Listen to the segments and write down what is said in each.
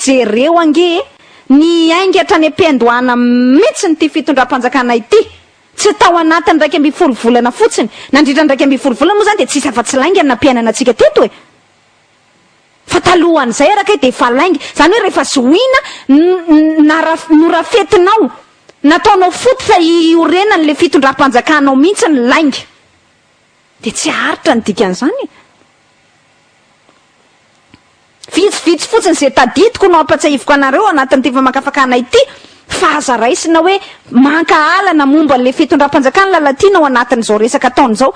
Jereo ange e! Niainga hatrany am-piandohana mihitsy ity fitondram-panjakana ity. Tsy tao anatin'ny iraika ambin'ny folo volana fotsiny. Nandritra ny iraika ambin'ny folo volana moa izany dia tsy hisy afa-tsy lainga ny nampiainana antsika teto e! Fa talohan'izay ara kay dia efa lainga. Izany hoe rehefa zohiana, norafetinao, nataonao foot fa hiorenan'ilay fitondram-panjakanao mihitsy ny lainga. Dia tsy haharitra ny dikan'izany e. Vitsivitsy fotsiny izay tadidiko no hampatsiahiviko anareo anatin'ity famakafakana ity. Fa aza raisina hoe mankahala na momba an'ilay fitondram-panjakana Lalatiana ao anatin'izao resaka ataony izao.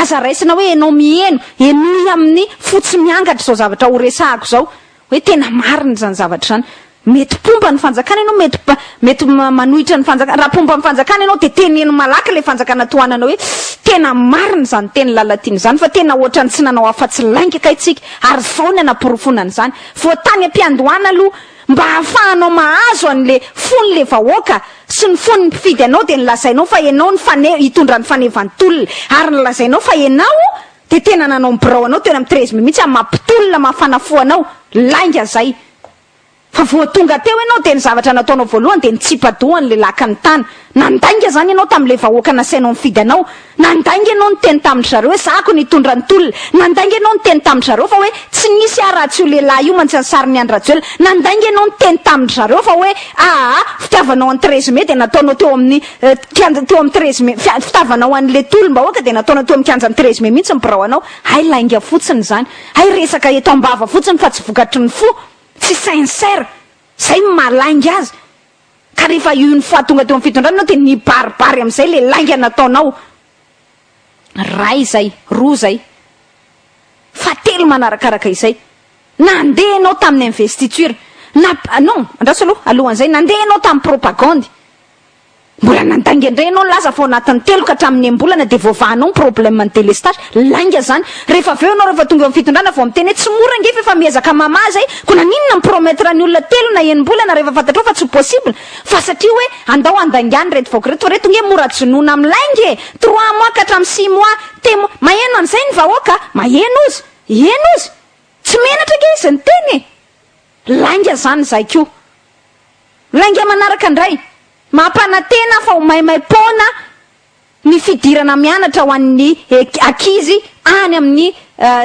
Aza raisina hoe ianao miheno, henoy amin'ny fo tsy miangatra izao zavatra horesahako izao, hoe tena marina izany zavatra izany. Mety mpomba ny fanjakana ianao, mety mety manohitra ny fanjakana. Raha mpomba ny fanjakana ianao dia teneno malaky ilay fanjakana tohananao hoe tena marina izany tenin'i Lalatiana izany fa tena ohatran'ny tsy nanao afa-tsy lainga kay tsika ary izao ny hanaporofoana an'izany. Voa tany am-piandohana aloha. Mba hahafahanao mahazo an le fon le vahoaka sy ny fon ny mpifidy anao dia nolazainao fa enao ny fane hitondra ny fanevan tolona ary nolazainao fa enao dia tena nanao ny birao anao teo am treize mai mihitsy maha mpitolona maha fanafo anao lainga zay fa voa tonga teo enao dia ny zavatra nataonao voalohany dia nitsipa doha an le lakan tana Nandainga izany ianao tamin'ilay vahoaka nasainao nifidy anao. Nandainga ianao niteny tamin-dry zareo hoe zahako ny hitondra ny tolona. Nandainga ianao niteny tamin-dry zareo fa hoe tsy nisy ahy raha tsy io lehilahy io mantsy ny sarin'i Andry Rajoelina. Nandainga ianao niteny tamin-dry zareo fa hoe aa fitiavanao an'i Therese May dia nataonao teo amin'ny kianja teo amin'i Therese May fitavanao an'ilay tolom-bahoaka dia nataonao teo amin'ny kianjan'i Therese May mihitsy ny birao anao. Hay lainga fotsiny izany. Hay resaka eto am-bava fotsiny fa tsy vokatry ny fo. Tsy sincère. Izay no maha lainga azy. Ka rehefa io ny fahatonga teo amin'ny fitondrana ianao dia nibaribary amin'izay ilay lainga nataonao. Iray izay, roa izay, fahatelo manarakaraka izay. Nandeha ianao tamin'ny investiture. Na, non, andraso aloha, alohan'izay, nandeha ianao tamin'ny propagandy. Mbola nandainga indray ianao nilaza fa ao anatin'ny telo ka hatramin'ny enim-bolana dia voavahanao ny problème ny délestage. Lainga zany. Rehefa avy eo ianao rehefa tonga eo am fitondrana vao miteny hoe tsy mora ange fa efa miezaka mamaha zay, ko naninona mi promettre ny olona telo na enimbolana rehefa fantatrao fa tsy possible, fa satria hoe andao handaingana ireto vahoaka ireto fa ireto nge mora jonoina am lainga e! Trois mois ka hatram six mois, temo, maheno an'izay ny vahoaka a! Maheno ozy! Heno ozy! Tsy menatra ange izy niteny e! Lainga zany zay ko! Lainga manaraka ndray, mampanatena aho fa ho maimaim-poana Ny fidirana mianatra ho an'ny ankizy any amin'ny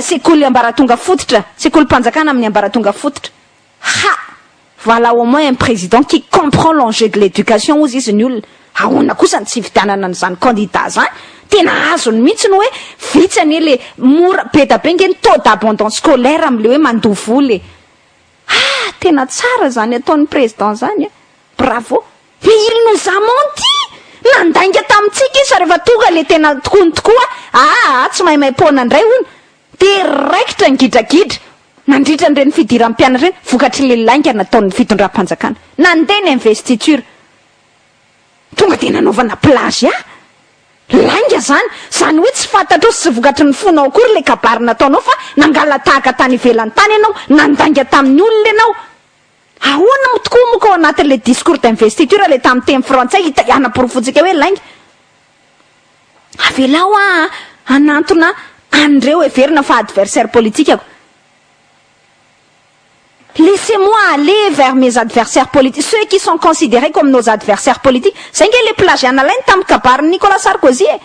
sekoly ambaratonga fototra, sekolim-panjakana amin'ny ambaratonga fototra. Ha! Voilà au moins un président qui comprend l'enjeu de l'éducation hozy izy ny olona. Ahoana kosa ny tsy hividianana an'izany candidat izany? Tena azony mihitsy ny hoe vitsy anie le mora, be da be nge ny taux d'abandon scolaire amin'le hoe mandoa vola e! Ah! Tena tsara zany ataon'ny Président zany a! Bravo! Dia il nous a menti! Nandainga tamintsika izy fa rehefa tonga ilay tena tokoany tokoa aa tsy maimaim-poana indray hono dia raikitra ny gidragidra nandritra an'ireny fidiram-pianatra ireny vokatr'ilay lainga nataon'ny fitondram-panjakana. Nandeha ny investiture. Tonga dia nanaovana plagiat? Lainga zany! Zany hoe tsy fantatrao sy tsy vokatry ny fonao akory le kabary nataonao fa nangalatahaka tany ivelany tany ianao, nandainga tamin'ny olona ianao. Ahoana moa tokoa moa ka ao anatin'ilay discours d'investiture ilay tamin'ny teny frantsay hita hanaporofoantsika hoe lainga? Avelao aho hanantona an'ireo heverina fa adversaire politikako. Laissez moi aller vers mes adversaires politiques, ceux qui sont consideres comme nos adversaires politiques, zay nge le plagiat nalainy tamin'ny kabarin'i Nicolas Sarkozy e!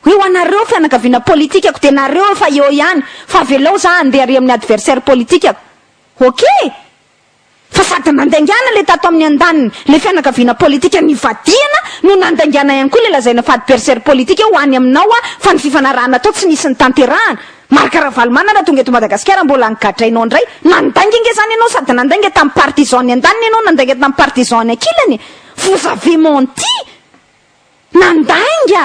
Hoe ho anareo fianakaviana politikako dia nareo efa eo ihany fa avelao za handeha ary amin'ny adversaire politikako! Okay! Fa sady nandaingana ilay tato amin'ny andaniny ilay fianakaviana politika nivadihana no nandaingana ihany koa ilay lazaina fa adversaire politique ho any aminao aho fa ny fifanarahana tao tsy nisy nitanterahana. Marc Ravalomanana tonga eto Madagasikara mbola nigadrainao indray. Nandainga nge izany ianao sady nandainga tamin'ny partisan ny andaniny ianao nandainga tamin'ny partisan ny ankilany e! Vous avez menti! Nandainga!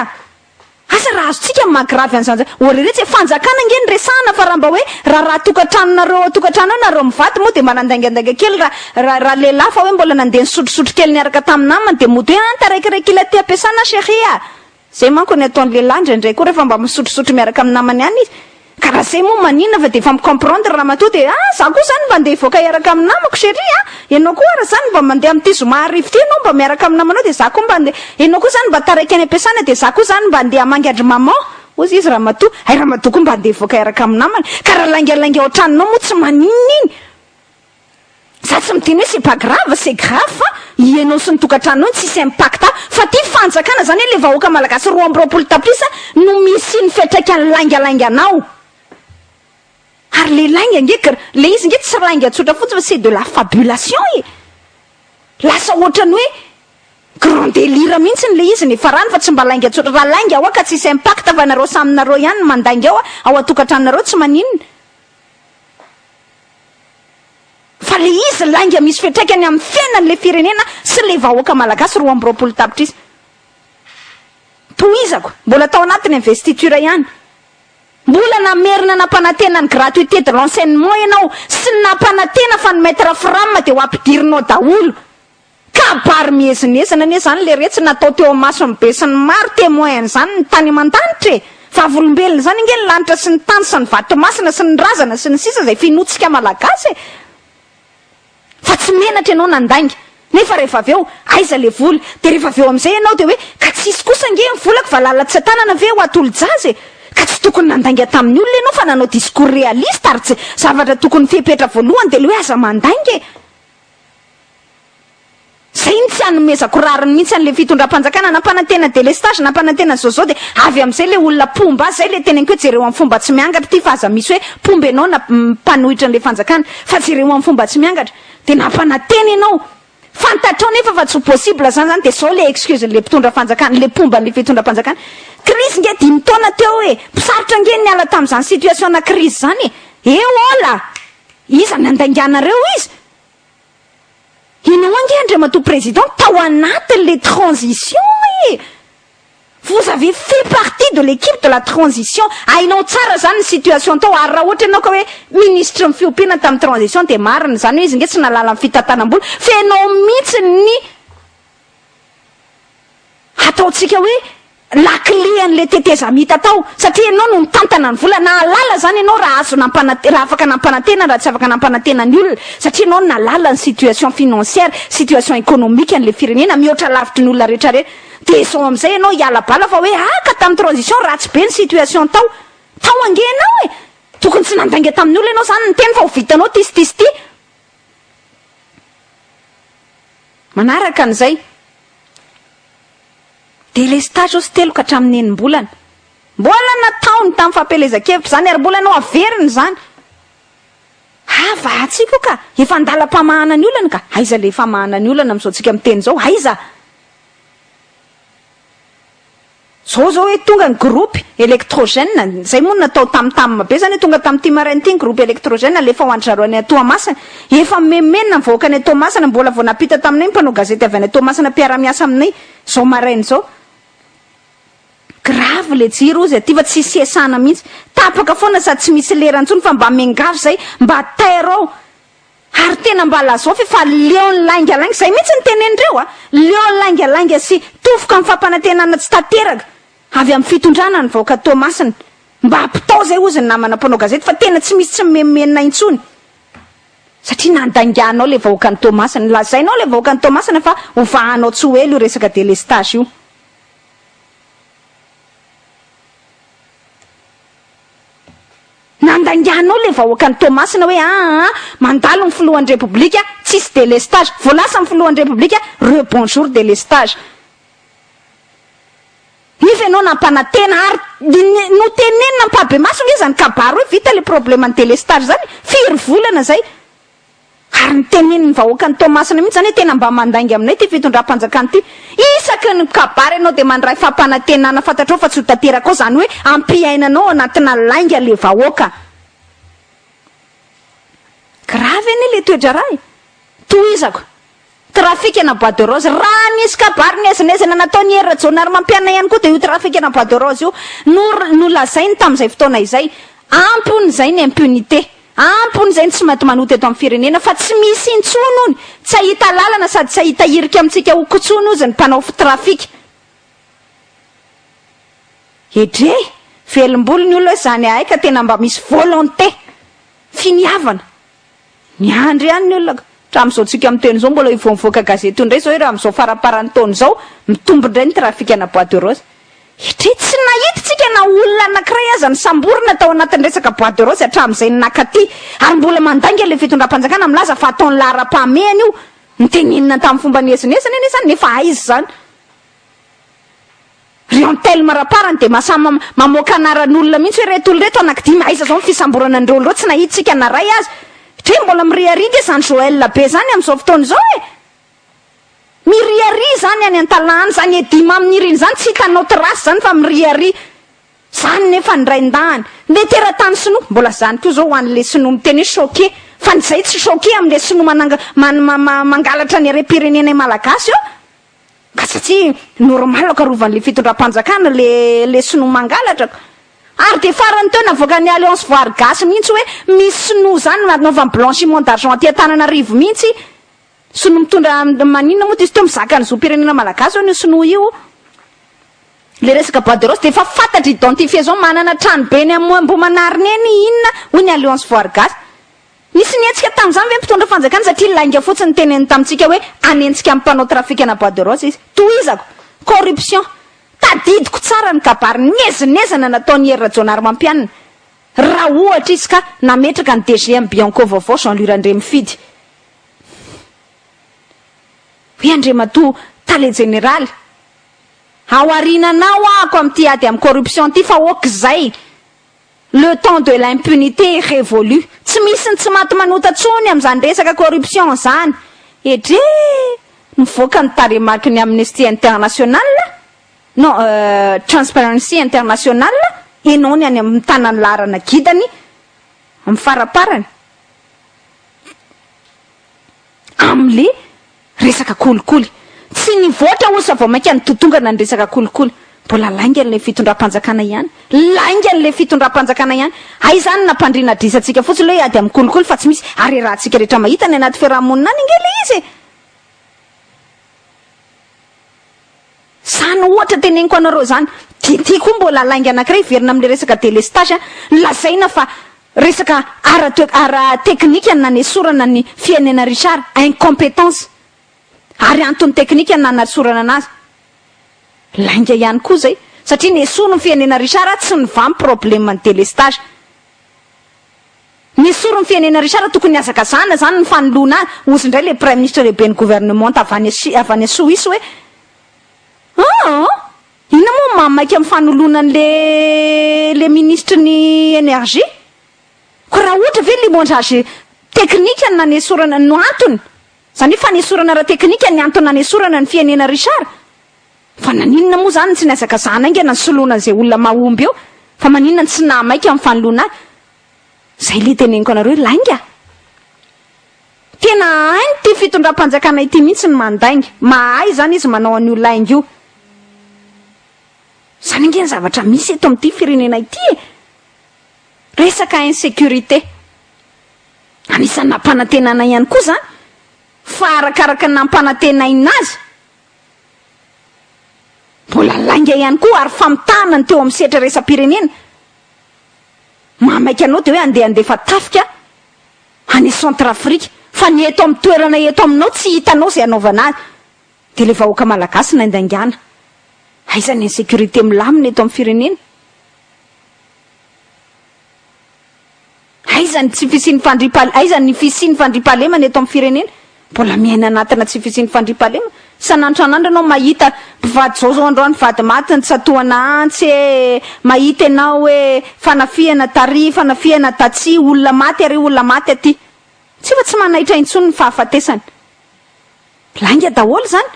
Asa raha azontsika ny maha-gravy an'izany izany. Ô re re, tsy hoe fanjakana ange no resahana fa raha mba hoe raharaha tokantranonareo ao an-tokantrano ao nareo mivady moa dia mba nandaingandainga kely raha raha lehilahy fa hoe mbola nandeha nisotrosotro kely niaraka tamin'ny namany dia mody hoe an taraikaraiky ilay aty am-piasana an chérie a! Izay manko ny ataon'ny lehilahy indraindray koa rehefa mba misotrosotro miaraka amin'ny namany ihany izy Ka raha zay moa maninona fa dia efa mi-comprendre ramatoa dia ah za koa zany mba ndeha hivoaka hiaraka amin'ny namako chérie a! ianao koa ara zany mba mandeha amin'ity zoma arivo ity ianao mba miaraka amin'ny namanao dia za koa mba ndeha ianao koa zany mba taraiky any am-piasana dia za koa zany mba ndeha hamangy an-dry maman hozy izy ramatoa hay ramatoa koa mba ndeha hivoaka hiaraka amin'ny namany ka raha laingalainga ao an-tranonao moa tsy maninona iny Za tsy miteny hoe c'est pas grave, c'est grave fa ianao sy ny tokantranonao no tsisy impact fa ty fanjakana zany le vahoaka malagasy roa amby roapolo tapitrisa no misy ny fiatraikany lainga lainga anao ary le lainga nge gr le izy nge tsy lainga tsotra fotsiny fa c'est de la fabulation e lasa ohatrany hoe grand delire mihitsiny le izy ny farany fa tsy mba lainga tsotra raha lainga hoa ka tsisy impact fa nareo samy nareo ihany ny mandainga ao ao antokantranonareo tsy maninona Fa le izy lainga misy fiatraikany amin'ny fiainany le firenena sy le vahoaka malagasy roa amby roapolo tapitrisa. Tohizako, mbola tao anatin'ny investiture ihany, mbola namerina nampanantena ny gratuité de l'enseignement ianao sy nampanantena fa ny maitre fram dia ho ampidirinao daholo Kabary miezinezina anie zany le retsy natao teo amason'ny besinimaro, temoin an'izany ny tany aman-danitra e! Vavolombelona izany ange ny lanitra sy ny tany sy ny vatomasina sy ny razana sy ny sisa izay finoantsika malagasy e! Fa tsy menatra ianao nandainga, nefa rehefa avy eo aiza le vola? Dia rehefa avy eo amin'izay ianao dia hoe ka tsy hisy kosa ange ny volako valala tsy an-tanana ve ho atolo-jaza e! Ka tsy tokony nandainga tamin'ny olona ianao fa nanao discours réaliste ary tsy, zavatra tokony fepetra voalohany dia le hoe aza mandainga e! Zay no tsy anomezako rariny mihitsy anle fitondrampanjakana nampanantena delestage nampanantena zao zao de avy amzay le olona pomba azy zay le teneniko hoe jereo am fomba tsy miangatra ty fa aza misy hoe pomba enao na mpanohitra anle fanjakana fa jereo am fomba tsy miangatra de nampanantena enao fantatrao nefa fa tsy possible zany zany de zao le excuse nle mpitondra fanjakana le pomba anle fitondrampanjakana crise nge dimy taona teo e sarotra nge niala tamzany situation na crise zany e eola Iza nandainganareo izy? Ianao ange Andriamatoa Président tao anatiny le transition ee! Vous avez fait partie de l'équipe de la transition, hainao tsara zany ny situation tao ary raha ohatra ianao ka hoe Ministre ny fiompiana tamin'ny transition dia marina izany hoe izy nge tsy nahalala ny fitantanam-bola fa ianao mihitsy ny Hataontsika hoe lakile an'ilay tetezamita tao, satria ianao no nitantana ny vola. Nahalala izany ianao raha azo nampanantena, raha afaka nampanantena, raha tsy afaka nampanantena ny olona, satria ianao nahalala ny situation financière, situation économique an'ilay firenena mihoatra lavitry ny olona rehetra re. Dia izao amin'izay ianao hiala bala fa hoe ah ka tamin'ny transition ratsy be ny situation tao. Tao ange ianao e! Tokony tsy nandainga tamin'ny olona ianao izany niteny fa ho vitanao ity sy ity sy ity. Manaraka an'izay, delestazy osy telo ka hatramin'ny enim-bolana. Mbola nataony tamin'ny fampielezan-kevitra izany ary mbola nohaveriny izany. Havahantsika io ka, efa an-dalam-pamahana ny olana ka. Aiza ilay famahana ny olana amin'izao antsika miteny izao? Aiza? Zao zao hoe tonga ny groupe electrogène, zay moa no natao tam tam be zany hoe tonga tamty maraina ty ny groupe electrogène alefa ho an-dry zareo any à Toamasina. Efa mimemenina mivahoaka any à Toamasina, mbola vao nampita taminay ny mpanao gazety avy any à Toamasina mpiara miasa aminay zao maraina zao. Grave le jiro ozy aty fa tsisy iasana mihitsy. Tapaka foana sady tsy misy lera intsony fa mba miangavy zay mba tairo ao. Ary tena mba lazao ve fa leon'ny laingalainga, izay mihitsy no tenenindreo a, leon'ny laingalainga sy tofoka amin'ny fampanantenana tsy tanteraka avy amin'ny fitondrana ny vahoaka Toamasina. Mba ampitao izay hozy ny namana mpanao gazety fa tena tsy misy tsy mimenomenona intsony satria nandaingahinao ilay vahoakan'i Toamasina, lazainao ilay vahoakan'i Toamasina fa hovahanao tsy ho ela io resaka délestage io. Nandaingahinao ilay vahoakan'i Toamasina hoe aa mandalo ny filohan'ny Repoblika, tsisy délestage. Vao lasa ny filohan'ny Repoblika, rebonjour délestage. Nefa ianao nampanantena ary notenenina ampahibemaso nge izany kabary hoe vita ilay probleman'ny délestage izany, firy volana izay Ary ny tenenin'ny vahoakan'i Toamasina mihitsy izany hoe tena mba mandainga aminay ity fitondram-panjakana ity. Isaky ny kabary ianao dia mandray fampanantenana fantatrao fa tsy ho tanteraka ao izany hoe hampiainanao ao anatina lainga ilay vahoaka. Grave anie ilay toe-draharaha e! Tohizako. Trafikana bois de rose. Raha nisy kabary niezinezina nataon'i Hery Rajaonarimampianina ihany koa dia io trafikana bois de rose io no nolazainy tamin'izay fotoana izay. Ampy hono izay ny impunité. Ampy hono izay ny tsy matimanota eto amin'ny firenena fa tsy misy intsony hono, tsy hahita lalana sady tsy hahita hirika amintsika ho kotsoina ozy ny mpanao fitrafika. Edrey! Velombolo ny olona hoe izany ahay ka tena mba misy volonté! Finiavana! Miandry ihany ny olona ka. Hatramin'izao tsika miteny izao mbola io vao nivoaka gazety io indray izao hoe raha amin'izao faramparan'ny taona izao mitombo indray ny trafic ana bois de rose. Hatria tsy nahita tsika na olona anankiray aza nisamborina tao anatin'ny resaka bois de rose hatramin'izay ny nakaty. Ary mbola mandainga ilay fitondram-panjakana milaza fa ataony laharam-pahamehana io. Notenenina tamin'ny fomba niezinezina anie izany nefa aiza izany. Ry Antelme Raparany dia mahasahy ma mamoaka anaran'olona mihitsy hoe reto olona reto anakidimy aiza zao ny fisamborana an'ireo olona ireo tsy nahitsika na ray aza Dre mbola miriaria nge zany Joël be zany amzao fotoana izao e miriaria zany any Antalahan zany Eddy Mamy niriny zany tsy hitanao trace zany fa miriaria zany nefa ny raindahany le teratany sinoa mbola zany koa zao ho anle sinoa miteny hoe choqué fa ny zay tsy choqué amle sinoa mananga man ma ma mangalatra ny harem-pirenenay malagasy eo Fa satria normal karovan'ny le fitondram-panjakana le le sinoa mangalatra ko. Ary dia farany teo navoakan'ny alliance voary gasy mihintsy hoe misy sinoa zany nanaovany blanchiment d'argent aty Antananarivo mihintsy. Sinoa mitondra maninona moa izy teo mizaka ny zom-pirenena malagasy hono io sinoa io. Le resaka bois de rose dia efa fantatra identifier zao manana tranobe eny Ambohimanarina eny inona hoy ny alliance voary gasy. Nisy nihetsika tamin'izany ve ny mpitondra fanjakana satria lainga fotsiny ny teneniny tamintsika hoe hanenjika amin'ny mpanao trafikana bois de rose izy? Tohizako, corruption. Tadidiko tsara ny kabary niezinezina nataon'i Hery Rajaonarimampianina raha ohatra izy ka nametraka ny DGM Bianco vaovao Jean Louis Randriamifidy hoe Andriamatoa Tale Jeneraly, ao aoriananao aho ako amin'ity ady amin'ny corruption ity fa ok izay Le temps de l'impunité est révolu, tsy misy ny tsy maty manota tsony amin'izany resaka corruption izany, edree! Nivoaka ny tarehimarky ny Amnesty International non euh Transparency International enao ny any am mitana ny laharana gidany am faraparany. Amle resaka kolikoly. Tsy nivoatra hono sa vao mainka nitotongana ny resaka kolikoly. Mbola lainga le fitondram-panjakana ihany. Lainga le fitondram-panjakana ihany. Hay izany nampandriana adrisa antsika fotsiny le ady amin'ny kolikoly fa tsy misy harerahantsika rehetra mahita any anaty fiaraha-monina any ange le izy e. Izany ohatra teneniko anareo izany. TT koa mbola lainga anankiray hiverina amin'ilay resaka délestage a. Lazaina fa resaka ara toe, ara teknika ny nanesorana an'i Fiainena Richard, incompétence. Ary antony teknika ny nanasorana anazy. Lainga ihany koa izay. Satria nesorin'i Fiainena Richard tsy nivaha ny problème ny délestage. Ny soron'ny fienena Richard tokony hazakazahana zany ny fanoloana ahy ozy ndray le praiminisitra lehiben'ny governemanta avy any Asie avy any Soisy hoe aah inona moa ny maha maika ny fanoloana an'le le minisitry ny energie ko raha ohatra ve limondrage teknika no nanesorana no antony zany hoe fanesorana ara-teknika ny antony nanesorana ny fienena Richard Fa naninona moa izany no tsy nihazakazahana haingana ny soloana an'izay olona mahomby eo? Fa maninona no tsy naha maika ny fanoloana ahy? Izay ilay teneniko anareo hoe lainga! Tena hain'ity fitondram-panjakana ity mihitsy ny mandainga. Mahay izany izy manao an'io lainga io. Izany ange ny zavatra misy eto amin'ity firenena ity e! Resaka insécurité. Anisan'ny nampanantenaina ihany koa izany. Fa arakaraka ny nampanantenaina azy. Mbola lainga ihany koa ary famitahana ny teo amin'ny sehatra iraisam-pirenena. Mahamaika anao dia hoe andeha handefa tafika any Centrafrique, fa ny eto amin'ny toerana eto aminao tsy hitanao izay hanaovana azy. Dia ilay vahoaka malagasy naindaingana. Aiza ny insécurité milamina eto amin'ny firenena? Aiza ny tsy fisian'ny fandriampahal aiza ny fisian'ny fandriampahalemana eto amin'ny firenena? Mbola miaina anatina tsy fisian'ny fandriampahalemana? Sa nantranandro ianao mahita mpivady zao zao androany vady maty nitsatohana antsy e, mahita ianao hoe fanafihana tary, fanafihana tatsy, olona maty ary olona maty aty. Tsy efa tsy manaitra intsony ny fahafatesana. Lainga daholo izany.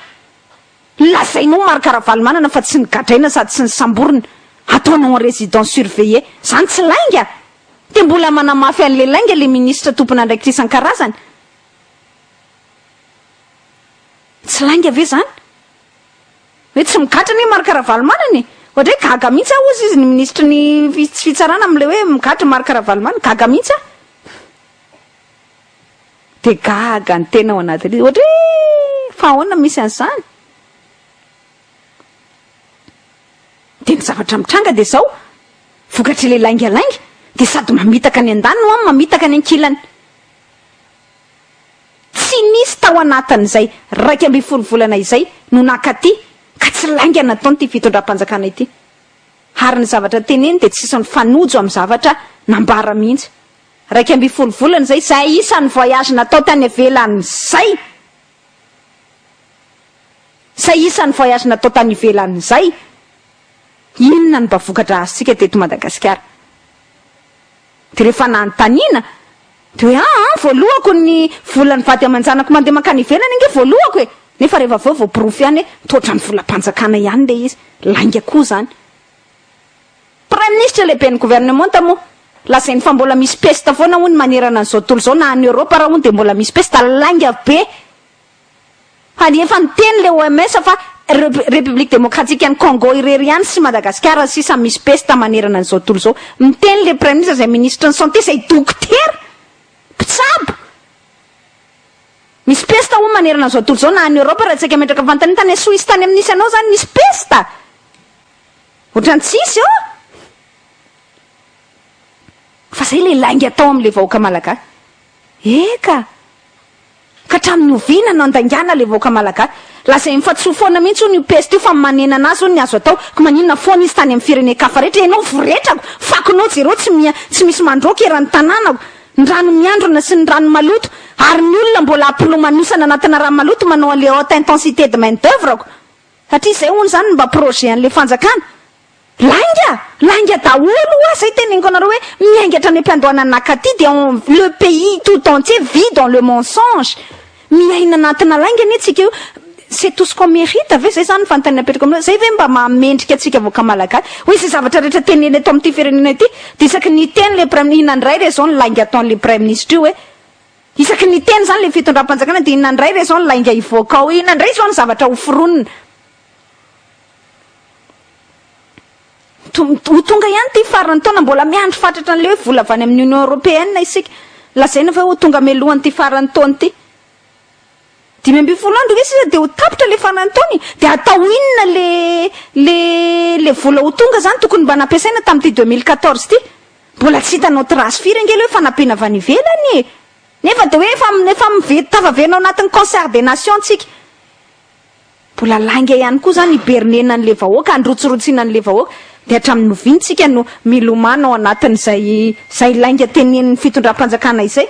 Lazainao Marc Ravalomanana fa tsy nigadraina sady tsy nisamborina, ataonao en résidence surveillée. Zany tsy lainga? Dia mbola manamafy an'ilay lainga ilay ministra tompon'andraikitra isan-karazany. Tsy lainga ve zany? Hoe tsy migadra anie Marc Ravalomanana e! Ohatray gaga mihitsy aho ozy izy ny ministry ny fitsfitsarana amin'ilay hoe migadra Marc Ravalomanana. Gaga mihitsy aho. Dia gaga ny tena ao anatin'izy, ohatra hoe fa ahoana no misy an'izany? Dia ny zavatra mitranga dia izao, vokatr'ilay laingalainga dia sady mamitaka any an-daniny ho'a mamitaka any an-kilany. Tsy nisy tao anatin'izay iraika ambin'ny folo volana izay no nankaty ka tsy lainga nataon'ity fitondram-panjakana ity. Ary ny zavatra teneniny dia tsy nisy nifanojo amin'ny zavatra nambara mihitsy. iraika ambin'ny folo volana izay, izay isan'ny voyage natao tany ivelany izay, izay isan'ny voyage natao tany ivelany izay, inona no mba vokatra azontsika teto Madagasikara? Dia rehefa nanontaniana, dia hoe aa voalohako ny volan'ny vady aman-janako mandeha mankany ivelany ange voalohako e! nefa rehefa avy eo voaporofo ihany hoe toa ohatran'ny volam-panjakana ihany ilay izy, lainga koa izany. Praiminisitra lehiben'ny governemanta moa lazainy fa mbola misy pesta foana hono manerana an'izao tontolo izao na any Europe ara hono dia mbola misy pesta lainga be ary efa niteny ilay OMS fa République démocratique an'i Congo irery ihany sy Madagasikara sisa no misy pesta manerana an'izao tontolo izao. Miteny ilay praiminisitra izay minisitry ny santé izay dokotera mpitsabo misy pesta hono manerana an'izao tontolo izao na any Europe raha tsy aika metraka fanontaniana tany Suisse tany amin'ny nisy anao izany misy pesta Ohatran'ny tsisy ô! Fa zay le lainga atao amin'le vahoaka malagasy. Eka! Ka hatramin'ny oviana no handaingana le vahoaka malagasy? Lazain'i Fatsisoa foana mihitsy hono io peste io fa manena anazy hono ny azo atao, ko maninona foana izy tany amin'ny firenen-kafa rehetra? Ianao voretrako! Fakonao jereo tsy miha tsy misy mandroaka eran'ny tanànako! Ny rano miandrona sy ny rano maloto! Ary ny olona mbola ampolomanosana anatina rano maloto manao an'le haute intensité de main d'oeuvre ko! Satria izay hono izany no mba projet an'ilay fanjakana. Lainga! Lainga daholo ho'a izay teneniko anareo hoe miainga hatrany am-piandohana ny nakaty dia on le pays tout entier vit dans le mensonge. Miaina anatina lainga anie tsika io. C'est tout ce qu'on mérite ve? Izay izany ny fanontaniana apetrako aminareo. Izay ve mba maha mendrika antsika vahoaka malagasy? Hoe izay zavatra rehetra tenenina eto amin'ity firenena ity dia isaky ny hiteny ilay praiminina, inona indray re izao ny lainga ataon'ilay praiministra io hoe. Isaky ny teny izany ilay fitondram-panjakana dia inona indray re izao ny lainga hivoaka ao? Inona indray izao ny zavatra hoforonina? Ho tonga ihany ity faran'ny taona, mbola miandry fatratra an'ilay hoe vola avy any amin'ny Union Européenne isika. Lazaina fa ho tonga mialohan'ity faran'ny taona ity. Dimy ambin'ny folo andro ve sisa dia ho tapitra ilay faran'ny taona e? Dia hatao inona ilay ilay ilay vola ho tonga izany? Tokony mba nampiasaina tamin'ity deux mille quatorze ity. Mbola tsy hitanao trace firy ange le fanapena avy any ivelany e! Nefa de hoe efa efa mive tafaverina ao anatin'ny concert des nations tsika. Mbola lainga ihany koa zany hiberner-na an'le vahoaka, handrotsirotsiana an'le vahoaka. De hatramin'ny oviana tsika no milomano ao anatin'izay izay lainga tenenin'ny fitondram-panjakana izay?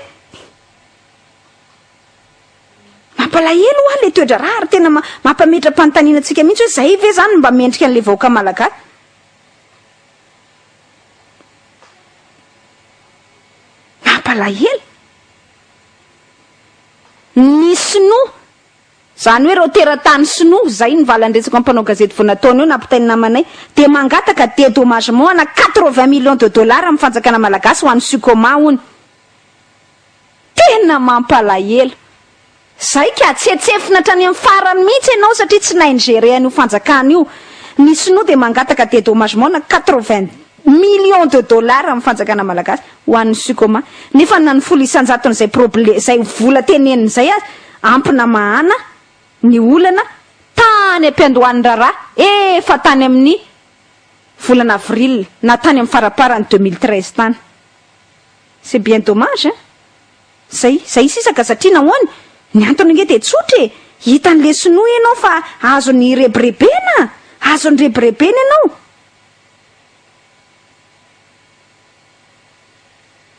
Mampalahelo hoa le toedraharaha ary tena mampametra-panontaniana antsika mihitsy hoe zay ve zany mba mendrika an'le vahoaka malagasy? Mampalahelo. Ny sinoa, izany hoe ireo teratany sinoa, izay ny valan-dretsako amin'ny mpanao gazety vao nataony eo nampitain'ny namanay, dia mangataka dédommagement ana quatre-vingts millions de dollars amin'ny fanjakana malagasy ho an'ny Sucoma, hono. Tena mampalahelo. Zay ka, tsetsefina hatrany amin'ny farany mihitsy ianao satria tsy nahay ni-gérer an'io fanjakana io. Ny sinoa dia mangataka dédommagement na quatre-vingts millions de dollars amin'ny fanjakana malagasy ho an'ny Sucoma nefa na ny folo isan-jaton'izay problème izay vola teneniny izay aza ampy namahana ny olana tany am-piandohan'ny raharaha efa tany amin'ny volana avril na tany amin'ny faraparany deux mille treize tany. C'est bien dommage hein! Zay, zay sisa ka satria nahoana? Ny antony ange dia tsotra e! Hitan'le sinoa ianao fa azony irebirebena! Azony rebirebena ianao!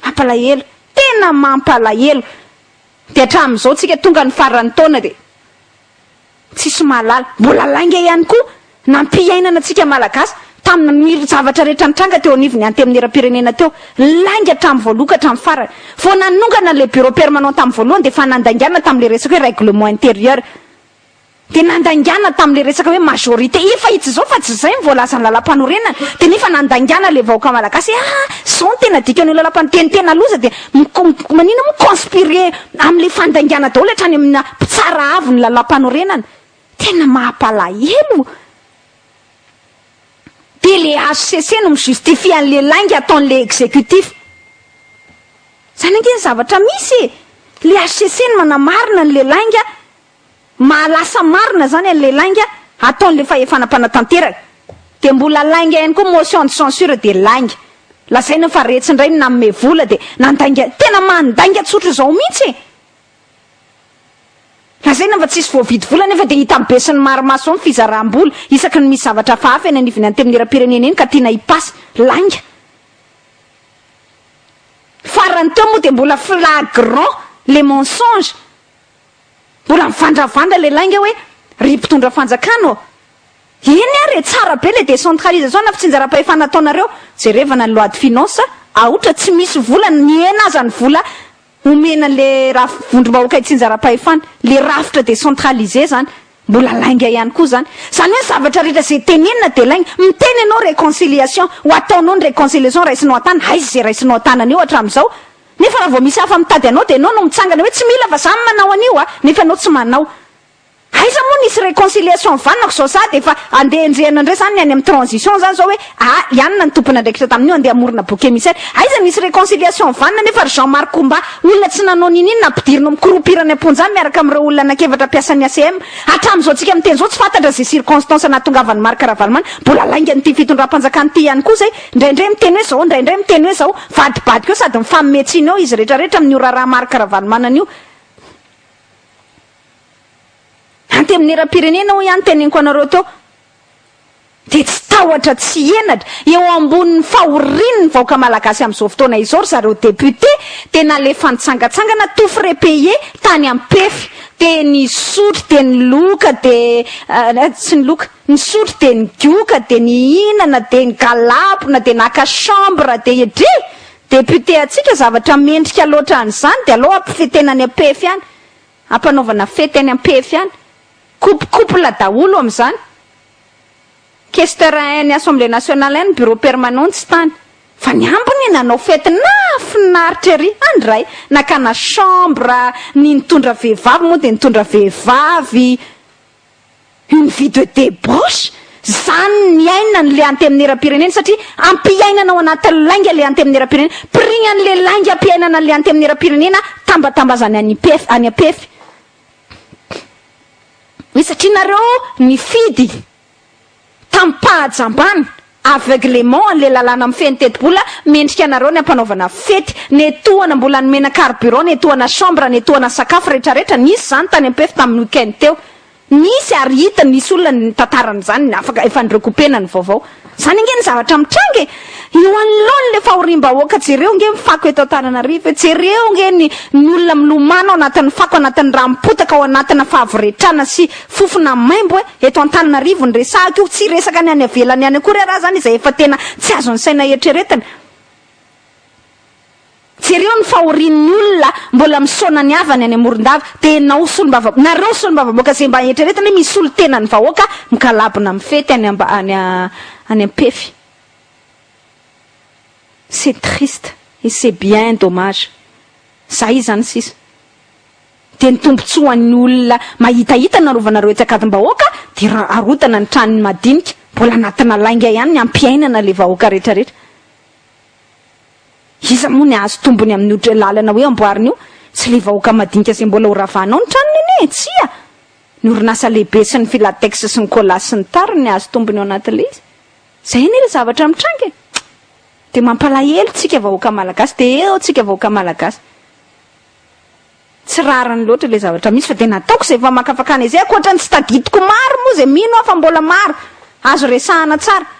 Mampalahelo! Tena mampalahelo! Dia hatramin'izao tsika tonga ny faran'ny taona dia. Tsisy mahalala. Mbola lainga ihany koa na ny mpiainana antsika Malagasy tamina ny zavatra rehetra nitranga teo anivon'ny Antenimierampirenena teo. Lainga hatramin'ny voaloha ka hatramin'ny farany. Vao nanongana ilay bureau permanent tamin'ny voalohany dia efa nandaingana tamin'ilay resaka hoe règlement intérieur. Dia nandaingana tamin'ilay resaka hoe majorité. Efa itsy izao fa tsy izay ny voalazan'ny lalàmpanorenana. Dia nefa nandaingana ilay vahoaka Malagasy hoe aa! Izao no tena dikan'io lalàmpanorenana. Dia ny tena loza dia. Mikomboko manina moa conspire amle fandaingana daholo hatrany amina mpitsara avo ny lalampanorenana. Tena mahapalahelo. Dia le HCC no mi justifie anle lainga ataonle executif. Zany ange ny zavatra misy e. Le HCC no manamarina anle lainga Mahalasa marina zany anle lainga ataonle fahefana mpanatanteraka de mbola lainga ihany koa motion de censure de lainga lazaina fa retsy indray ny nanome vola de nandainga tena mandainga tsotra zao mintsy e lazaina fa tsisy voavidy vola nefa de hitan'ny besin'ny maro maso zao ny fizarambola isaky ny misy zavatra hafahafa eny anivon'ny antemnierampirenena eny ka tiana hipasy lainga farany teo moa de mbola flagrant le mensonge Mbola mivandravandra le lainga hoe ry mpitondra fanjakana ô! Eny ary e, tsara be le décentralisation na fitsinjaram-pahefana ataonareo, jerevana ny loi de finance a otra tsy misy vola na mihena aza ny vola omena le raf vondrom-bahoaka hitsinjaram-pahefana, le rafitra décentralisé zany mbola lainga ihany koa zany. Zany hoe ny zavatra rehetra ze tenenina de lainga, miteny ianao réconciliation, ho ataonao ny réconciliation raisinao an-tana, aiza ze raisinao an-tanana eo hatramizao? Nefa raha vao misy hafa mitady anao dia ianao no mitsangana hoe tsy mila fa za no manao an'io a! nefa ianao tsy manao. Aiza moa nisy reconciliation nivanonako zao sady efa andeha enjehina ndray zany ny any am transition zany zao hoe aa ianona ny tompon'andraikitra tamin'io andeha amorona bouc emissaire aiza nisy reconciliation nivanona nefa ry Jean Marc Omba olona tsy nanao niniana ampidirina microupir any amponja miaraka am reo olona anak'efatra mpiasan'ny ACM hatram zao tsika miteny zao tsy fantatra ze circonstance nahatongavan'i Marc Ravalomanana mbola laingan'ity fitondram-panjakana ity ihany koa zay Indraindray miteny hoe zao, indraindray miteny hoe zao. Vadibadika eo sady mifanome tsiny eo izy rehetra rehetra amin'io raharaha Marc Ravalomanana io. Antenimieram-pirenena hoy aho noteneniko anareo teo dia tsy tahotra tsy henatra. Eo ambonin'ny fahorian'ny vahoaka malagasy amin'izao fotoana izao ry zareo députés dia nalefa nitsangatsangana tout frais payé tany Ampefy dia nisotro dia niloka dia tsy niloka. Nisotro dia nigoka dia nihinana dia nigalabona dia naka chambre dia edrey! Député antsika zavatra mendrika loatra an'izany dia aleo ampifetena any ampefy any, ampanaovana fety any ampefy any, coupe couple daholo amin'izany. Questeur any assemblée nationale any bureau permanent tsy tany fa ny ambiny nanao fety nahafinaritra ery any ray nakana chambre, ny nitondra vehivavy moa dia nitondra vehivavy, Une vie de debauche? Zany ny aina ny le antemieram-pirenena satria ampiainana ao anatin'ny lainga le antemieram-pirenena. Pris an'le lainga ampiainana an'le antemieram-pirenena tambatambazany any Mpefy any Ampefy. Hoe satria nareo nifidy. Tamim-pahajambana, aveuglement, an'ilay lalàna mifehy ny tetibola, mendrika anareo ny hampanaovana fety. Netohana mbola nomena carburant, netohana chambre, netohana sakafo, rehetra rehetra. Nisy izany tany Ampefy tamin'ny week-end teo. Nisy ary hita, nisy olona nitantarana izany, afaka, efa ni-recouper-na ny vaovao. Izany ange ny zavatra mitranga e! Eo anoloan'ilay fahoriam-bahoaka, jereo ange ny fako eto Antananarivo e! Jereo ange ny ny olona milomano ao anatin'ny fako, anatin'ny rà mipotaka, ao anatina fahavoretrana sy fofona maimbo e! Eto Antananarivo ny resahako io, tsy resaka ny any avelany any akory araha zany izay efa tena tsy azon'ny saina eritreretina. Jereo ny fahorian'ny olona mbola misaona ny havany any Morondava, dia enao solombava, nareo solombavamboaka izay mba eritreretina hoe misolo tena ny vahoaka migalabona mifety any amba, any any ampefy. C'est triste et c'est bien dommage. Zay izany sisa. dia ny tombotsoa ho an'ny olona mahitahita ny narovanareo etsy Ankadimbahoaka dia ra arotana ny tranony madinika mbola anatina lainga ihany ny hampiainana ilay vahoaka rehetrarehetra iza moa ny ahazo tombony amin'io lalana hoe amboarina io tsy ilay vahoaka madinika izay mbola ho ravanao ny tranony anie e tsia ny orinasa lehibe sy ny filatex sy ny colas sy ny tariny ny ahazo tombony ao anatin'ilay izy izay anie ilay zavatra mitranga e dia mampalahelo tsika vahoaka malagasy dia eo tsika vahoaka malagasy Tsy rariny loatra ilay zavatra misy fa dia nataoko izay famakafakana izay, ankoatra ny tsy tadidiko maro moa izay mino aho fa mbola maro azo resahana tsara.